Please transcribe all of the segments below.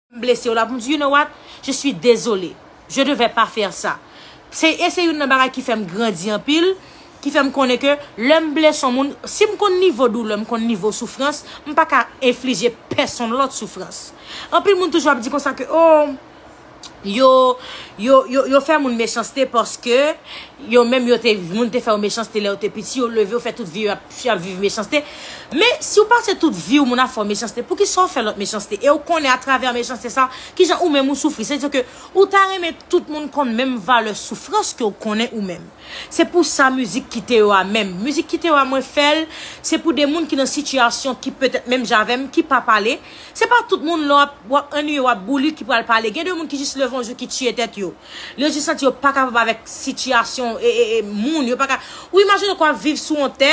M blese w la pou m di, you know what? Je suis désolé. Je devais pas faire ça. Se, e se youn nan bagay ki fè m grandi anpil, ki fè m konnen ke lè m blese yon moun, si m konn nivo doulè, m konn nivo soufrans, m pa ka enflije pèsonn lòt soufrans. Anpil moun toujou ap di konsa ke, oh, yo, yo, yo, yo fè moun mechanste paske. Yo menm yo te moun te fèw mechanste lèw te piti yo leve yo fè tout vi yo ap viv mechanste men siw pase tout viw moun ap fèw mechanste poukisa ou fè lòt mechanste ew konnen atravè mechanste sa kijan ou menm ou soufri se diw ke ou ta renmen tout moun konn menm valè soufrans kew konnen ou menm se pou sa mizik kite yo a menm mizik kite yo a mwen fèl se pou de moun ki nan sitiyasyon ki petèt menm jan avèm ki pa pale. Se pa tout moun lè w ap annuiye, w ap boulit ki pral pale. Gen de moun ki jis leve yon jou ki tiye tèt yo. Yo jis santi yo pa kapab avèk sitiyasyon moun. Yo pa ka, ou imajine ke w ap viv sou yon tè,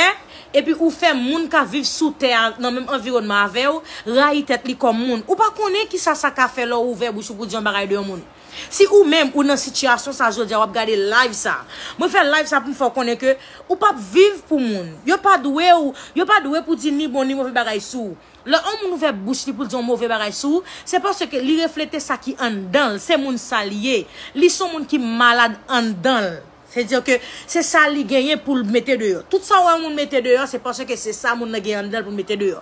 epi ou fè moun k ap viv sou tè a, nan menm anviwònman avè w, rayi tèt li kòm moun. Ou pa konnen ki sa sa ka fè lè w ouvè bouch ou pou di yon bagay de yon moun. Si ou menm ou nan sitiyasyon sa jodi a, w ap gade live sa. Mwen fè live sa pou m fè w konnen ke ou pa p viv pou moun. Yo pa dwe w, yo pa dwe pou di ni bon ni move bagay sou ou. Lè yon moun ouvè bouch li pou l di yon move bagay sou ou, se paske li reflete sa ki anndan l, se moun sa l ye. Li se yon moun ki malad anndan l. Se di ke se sa li genyen pou l mete deyò. Tout sa ou wè yon moun mete deyò, se paske se sa moun nan genyen anndan l pou l mete deyò.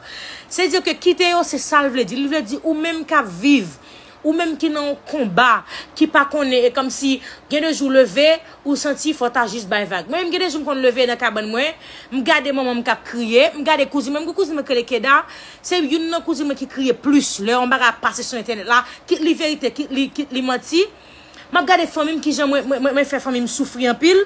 Se di ke kite yo se sa l vle di. Li vle di ou menm k ap viv Ou menm ki nan yon konba, ki pa konnen, e kòmsi gen de jou w leve, ou santi fò w ta jis bay vag. Mwen menm gen de jou m konn leve nan kabann mwen, m gade manman m k ap kriye, m gade kouzin mwen, m gen kouzin mwen ki rele Keda, se youn nan kouzin mwen ki kriye plis lè yon bagay ap pase sou entènèt la, kit li verite, kit li manti. M ap gade fanmi m, kijan mwen fè fanmi m soufri anpil.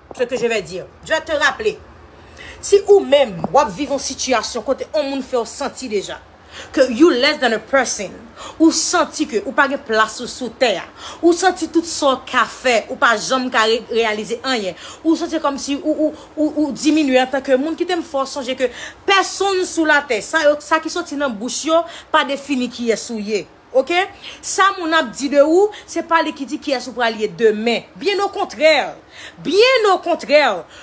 ce que je vais dire. Je vais te rappeler, si ou menm wap viv yon sitiyasyon kote yon moun fèw santi deja ke you less than a person, ou santi ke ou pa gen plas ou sou tè a, ou santi tout sa w ka fè ou pa janm ka reyalize anyen, ou santi kòmsi ou diminye antan ke moun, kite m fè w sonje ke pèsonn sou latè, sa yo, sa ki soti nan bouch yo pa defini kiyès ou ye. Ok sa moun ap di de ou se pa li ki di kiyès ou pral ye demen byen okontrè byen okontrè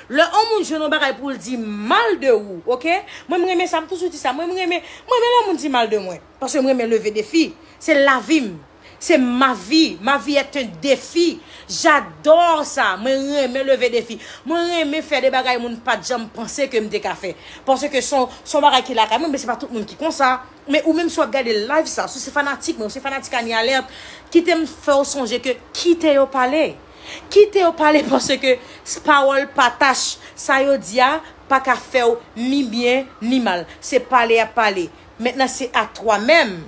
lè on moun jwenn on bagay pou l di mal de ou ok mwen m renmen sa m toujou di sa mwen m renmen m renmen lè moun di mal de mwen paske m renmen leve defi se lavi m se ma vi ma vie est un defi j'adore sa mwen renmen leve defi mwen renmen fè de bagay moun pat janm panse ke m te ka fè paske son son bagay ki lakay mwen men se pa tout moun ki konsa. Men ou menm si wap gade live sa, si w se fanatik mwen, ou se fanatik Anie Alerte, kite m fè w sonje ke kite yo pale. Kite yo pale paske pawòl patach sa yo di a pa ka fè w ni byen ni mal. Se pale y ap pale. Mentnan se a twa menm.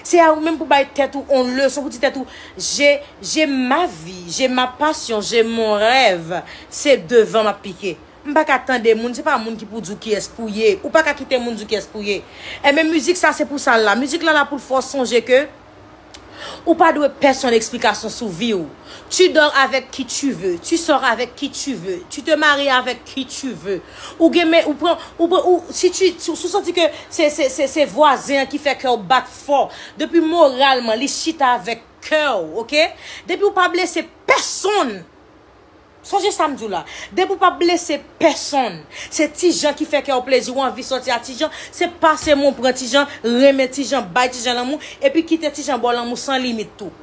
Se a ou menm pou bay tèt ou on leson, pou di tèt ou je, je ma vi, je ma pasyon, je mon rèv, se devan m ap pike. M paka tande moun, se pa moun ki pou di w kiyès pou ye. Ou paka kite moun di w kiyès pou w ye. Enben mizik sa se pou sa l la. Mizik la la pou l fè w sonje ke ou pa dwe pèsonn eksplikasyon sou vi w. Tu dors avec qui tu veux, tu sors avec qui tu veux, tu te maries avec qui tu veux. Ou gen men, ou pran, ou pran, ou, si tu, si w santi ke se, se, se, se vwazen an ki fè kè w bat fò, depi moralman li chita avèk kè w, ok? Depi w pa blese pèsonn! Sonje sa m di w la, depi w pa blese pèsonn, se Ti Jan ki fè kè w plezi, ou anvi sòti a Ti Jan, se pase men w pran Ti Jan, renmen Ti Jan, bay Ti Jan lanmou, epi kite Ti Jan ba w lanmou san limit tou.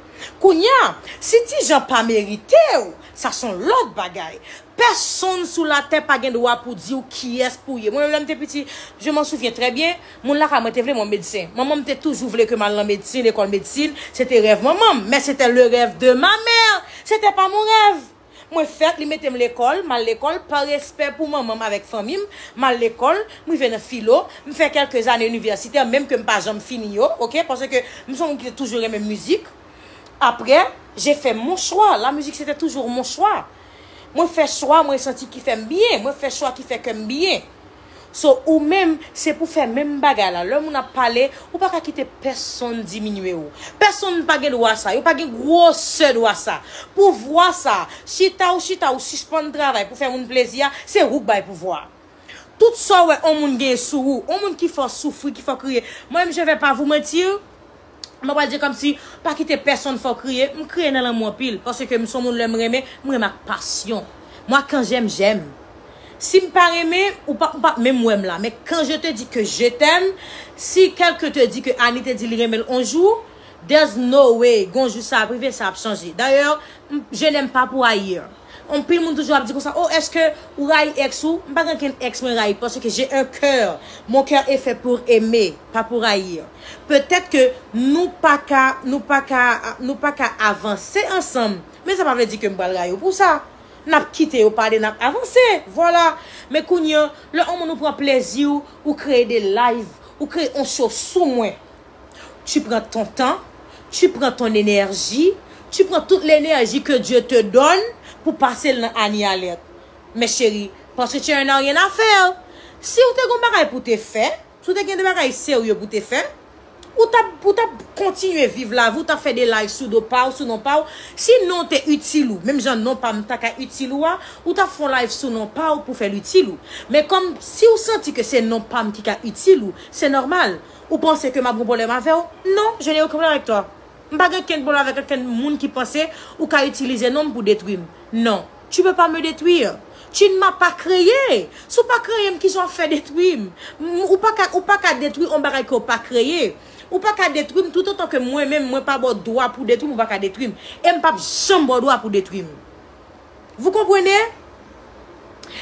Kounya, si Ti Jan pa merite w, sa son lòt bagay. Pèsonn sou latè pa gen dwa pou di w kiyès pou w ye. Mwen menm lè m te piti, je m'en souviens très bien, Moun lakay mwen te vle mwen medsen. Manman m te toujou vle ke m al nan medsin, lekòl medsin. Se te rèv manman m. Men se te le rèv de ma mère! Se te pa mon rèv! Mwen fèt, li mete m lekòl, m al lekòl, pa respè pou manman m avèk fanmi m, m al lekòl, m rive nan filo, m fè kèlke zane inivèsitè, menm ke m pa janm fini yo, ok, paske m se yon moun ki te toujou renmen mizik. Aprè, je fè mon chwa. La mizik se te toujou mon chwa. Mwen fè chwa mwen santi ki fè m byen. Mwen fè chwa ki fè kè m byen. So ou menm se pou fè menm bagay la. Lè moun ap pale, ou pa ka kite pèsonn diminye ou. Pèsonn pa gen dwa sa. Yo pa gen gwosè dwa sa. Pouvwa sa, chita ou chita ou sispann travay pou fè moun plezi a, se ou k bay pouvwa a. Tout sa ou wè on moun genyen sou ou, on moun ki fè w soufri, ki fè w kriye, mwen menm je vais pas vous mentir, Mwen pral di komsi, pa kite pèsonn fè w kriye, m kriye nan lanmou anpil, paske m son moun lè m renmen, m renmen ak pasyon. Moi quand j'aime, j'aime. Si m pa renmen, ou pa, ou pap menm wè m la, men quand je te dis que je t'aime, si quelqu'un te dit que Annie te di li renmen l on jou, there's no way, gon jou sa ap rive, sa ap chanje. D'ailleurs, je n'aime pas pour ailleurs. Anpil moun toujou ap di konsa oh eske ou rayi ex ou m pa gen okenn ex mwen rayi parce que j'ai un coeur mon coeur est fait pour aimer pas pour haïr peut-être que nou pa ka nou pa ka nou pa ka avanse ansanm men sa pa vle di ke m pral rayi w pou sa n ap kite yo pale n ap avanse vwala men kounye an lè on moun ou pran plezi w ou kreye de live ou kreye on show sou mwen tu pran ton tan, tu pran ton enèji, tu pran tout lenèji ke Dye te dòn pou pase l nan Annie Alerte. Mè cheri, panse tu en as rien à faire. Si ou te gon bagay pou te fè, si ou te gen de bagay serye pou te fè, ou tap, ou tap kontinye viv lavi w, ou tap fè de live sou do pa w, sou non pa w. Si non te itil ou, menm jan non pa m ta ka itil ou a, ou tap fè yon live sou non pa w pou fè l itil ou. Men kòm si ou santi ke se non pa m ki ka itil ou, se nòmal. Ou panse ke m ap gen pwoblèm avè w? Non, je n'ai aucun problème avec toi. M pa gen okenn pwoblèm avèk okenn moun ki panse ou ka itilize non m pou detwi m. Non, tu peux pas me détruire. Tu ne m'as pas créé. Si w pa kreye m, kisa w ap fè detwi m? Ou pa ka, ou pa ka detwi on bagay ke w pa kreye. Ou pa ka detwi m toutotan ke mwen menm mwen pa ba w dwa pou w detwi m, ou pa ka detwi m. E m p ap janm ba w dwa pou w detwi m. Vous comprenez?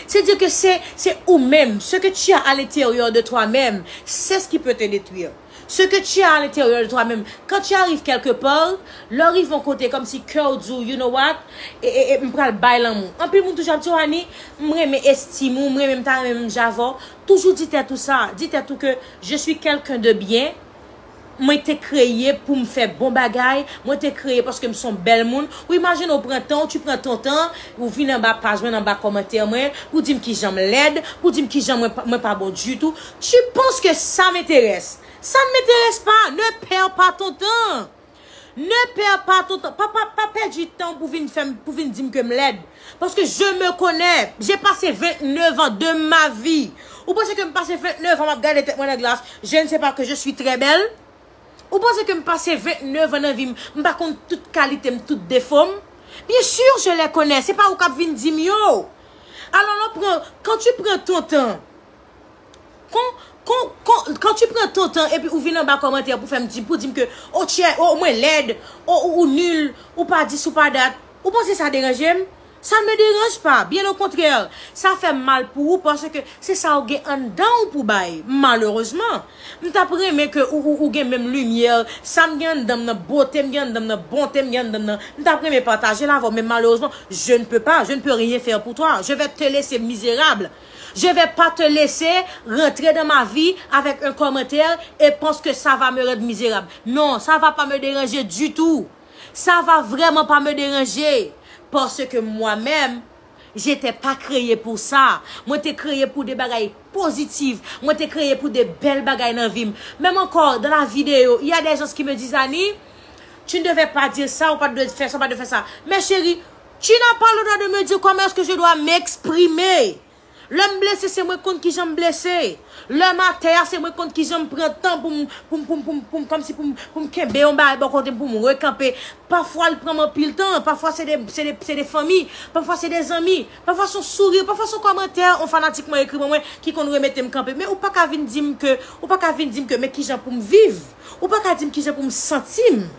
Se di ke se, se ou menm, ce que tu as à l'intérieur de toi même, c'est ce qui peut te détruire. Ce que tu as à l'intérieur de toi même, quand tu arrives quelque part, lè w rive yon kote kòm si kè w di w, you know what, e, e, e, m pral bay lanmou. Anpil moun toujou ap di w, Annie, m renmen estime ou, m renmen, m ta renmen menm jan avè w. Toujou di tèt ou sa, di tèt ou ke je suis quelqu'un de bien. Mwen te kreye poum fè bon bagay, mwen te kreye paske m son bèl moun, ou imajine ou pran tan ou tu pran ton tan ou vin anba paj mwen anba kòmantè mwen pou dim kijanm lèd, pou dim kijan mwen mwen pa bon ditou, tu penses que ça m'intéresse? Ça ne m'intéresse pas, ne perds pas ton temps! Ne perds pas ton temps, pa pa pa pèdi tanw pou vin fèm pou vin dim kem lèd paske je me connais, j'ai passé 29 ans de ma vie ou panse kem pase 29 ans map gade tèt mwen nan glas je ne sais pas que je suis très belle ou panse kem pase 29 ans nan vim m pa konn tout kalitem tout defom bien sur je les connais se pa ou kap vin dim yo alò lè w pran quand tu prends ton temps Kon, kon, kon, quand tu prends ton temps epi ou vin anba kòmantè pou fèm di, pou dim ke ou chè, ou mwen lèd, ou ou ou nul, ou pa dis ou pa dat, ou panse sa deranjem? Ça ne me dérange pas, bien au contraire, sa fèm mal pou ou paske se sa ou gen anndan ou pou bay, malheureusement. M tap renmen ke ou ou ou gen menm lumière, sam gen anndanm nan, botem gen anndanm nan, bontem gen anndanm nan, m tap renmen patajel avèw men malheureusement je ne peux pas, je ne peux rien faire pour toi, je vais te laisser misérable. Je vais pas te laisser rentrer dans ma vie avec un commentaire et pense que ça va me rendre misérable. Non, ça va pas me déranger du tout. Ça va vraiment pas me déranger. Parce que moi-même, j'étais pas créé pour ça. Mwen te kreye pou de bagay positif. Mwen te kreye pou de bèl bagay nan vi m. Menm ankò, dans la vidéo, il y a des gens qui me disent, Annie, tu ne devais pas dire ça, ou pa t dwe fè sa, ou pa t dwe fè sa. Men cheri, Tu n'as pas le droit de me dire comment est-ce que je dois m'exprimer. Lè m blese se mwen k konn kijan m blese. Lè m atè a se mwen k konn kijan m pran tan pou m, pou m, pou m, pou m, pou m, kòmsi pou m, pou m kenbe yon bagay bò kote m, pou m rekanpe. Pafwa l pran m anpil tan, pafwa se de, se de, se de fanmi, pafwa se de zanmi, pafwa s on souri, pafwa s on kòmantè yon fanatik mwen ekri ban mwen ki konn remete m kanpe. Men ou pa ka vin di m ke, ou pa ka vin di m ke men kijan pou m viv. Ou pa ka di m kijan pou m santi m.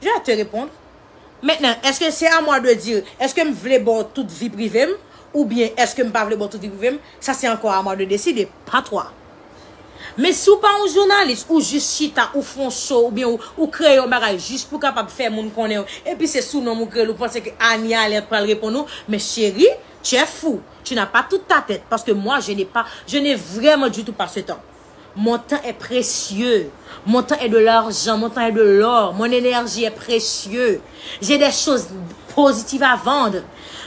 Je vais te répondre. Maintenant, est-ce que c'est à moi de dire, est-ce que m vle ba w tout vi prive m, oubyen est-ce que m pa vle ba w tout vi prive m, ça c'est encore à moi de décider, pas toi. Men si w pa yon jounalis, ou jis chita, ou fè yon show, oubyen ou kreye yon bagay jis pou w kapab fè moun konnen w, epi se sou non m ou kreye l, ou panse ke Anie Alerte pral reponn ou, men cheri, tu es fou, tu n'as pas toute ta tête, parce que moi je n'ai pas, je n'ai vraiment du tout pas ce temps. Mon tan è presye, mon tan è de larjan, mon tan è de lò, mon enèji è presye, je dè choz pozitiv a vand,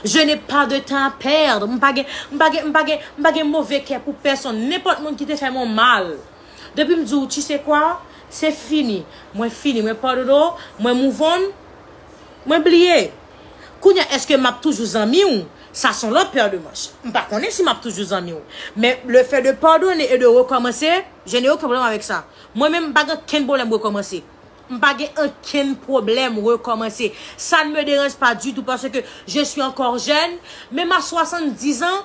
je ne pa de tan a pèd, m pa gen, m pa gen, m pa gen, m pa gen move kè pou pèsonn, nenpòt moun ki te fè m on mal, depi m di w, tu se kwa, se fini, mwen fini, mwen padodo, mwen mouvon. Mwen bliye. Kounya eske map toujou zanmi w? Sa son lòt paire de manche. M pa konnen si map toujou zanmi w. Men le fait de pardonner et de recommencer, je n'ai aucun problème avec ça. Mwen menm m pa gen ankenn pwoblèm rekomanse. M pa gen ankenn pwoblèm rekomanse. Ça ne me dérange pas du tout parce que je suis encore jeune. Men m a 70 ans,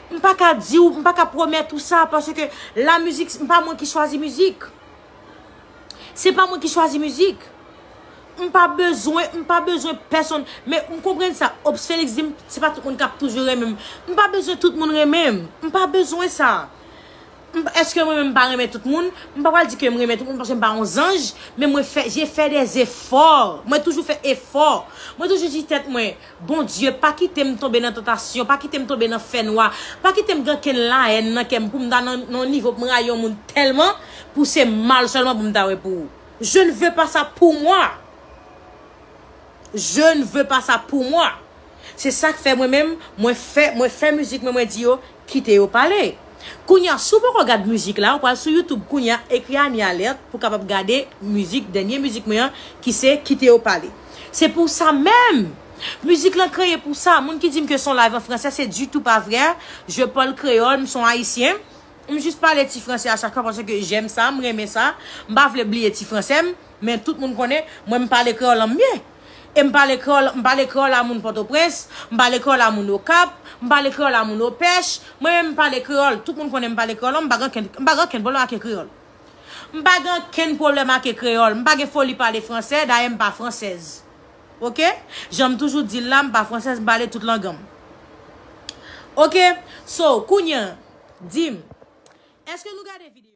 M pa ka di w, m pa ka pwomèt ou sa, paske la mizik, se pa mwen ki chwazi mizik. Se pa mwen ki chwazi mizik. M pa bezwen, m pa bezwen pèsonn. Men, m konprann sa, Ops Félix di m, se pa tout moun k ap toujou renmen m. M pa bezwen tout moun renmen m. M pa bezwen sa. Eske mwen menm m pa renmen tout moun? M pa pral di ke m renmen tout moun, paske m pa yon zanj. Men mwen fè, je fè dè zefò. Mwen toujou fè efò. Mwen toujou di tèt mwen, Bondye, pa kite m tonbe nan tantasyon, pa kite m tonbe nan fènwa, pa kite m gen kenn lahèn nan kè m pou m ta nan yon nivo pou m rayi yon moun tèlman pou se mal sèlman pou m ta wè pou ou. Je ne veux pas ça pour moi! Je ne veux pas ça pour moi! Se sa k fè mwen menm, mwen fè, mwen fè mizik mwen, mwen di yo, Kite yo pale. Kounya si w poko gad mizik la ou pral sou youtube kounya ekri Anie Alerte pou kapab gade mizik dènye mizik mwen an ki se kite yo pale. Se pou sa menm! Mizik lan kreye pou sa. Moun ki di m ke son live an fransè se ditou pa vrè. Je parle créole, m son ayisyen. M jis pale ti fransè a chak fwa paske j'aime ça, m renmen sa. M pa vle bliye ti fransè m, men tout moun konnen mwen m pale kreyòl lan m byen. E m pale kreyòl, m pale kreyòl a moun Pòtoprens, m pale kreyòl a moun Okap, m pale kreyòl a moun Opèch, mwen menm m pale kreyòl, tout moun konnen m pale kreyòl, m pa gen ankenn, m pa gen ankenn pwoblèm ake kreyòl. M pa gen ankenn pwoblèm ake kreyòl, m pa gen foli pale fransè, dayè m pa fransèz. Oke? Jan m toujou di l la, m pa fransèz, m pale tout lang an m. Oke? So, kounye an, di m, èske nou gade videyo?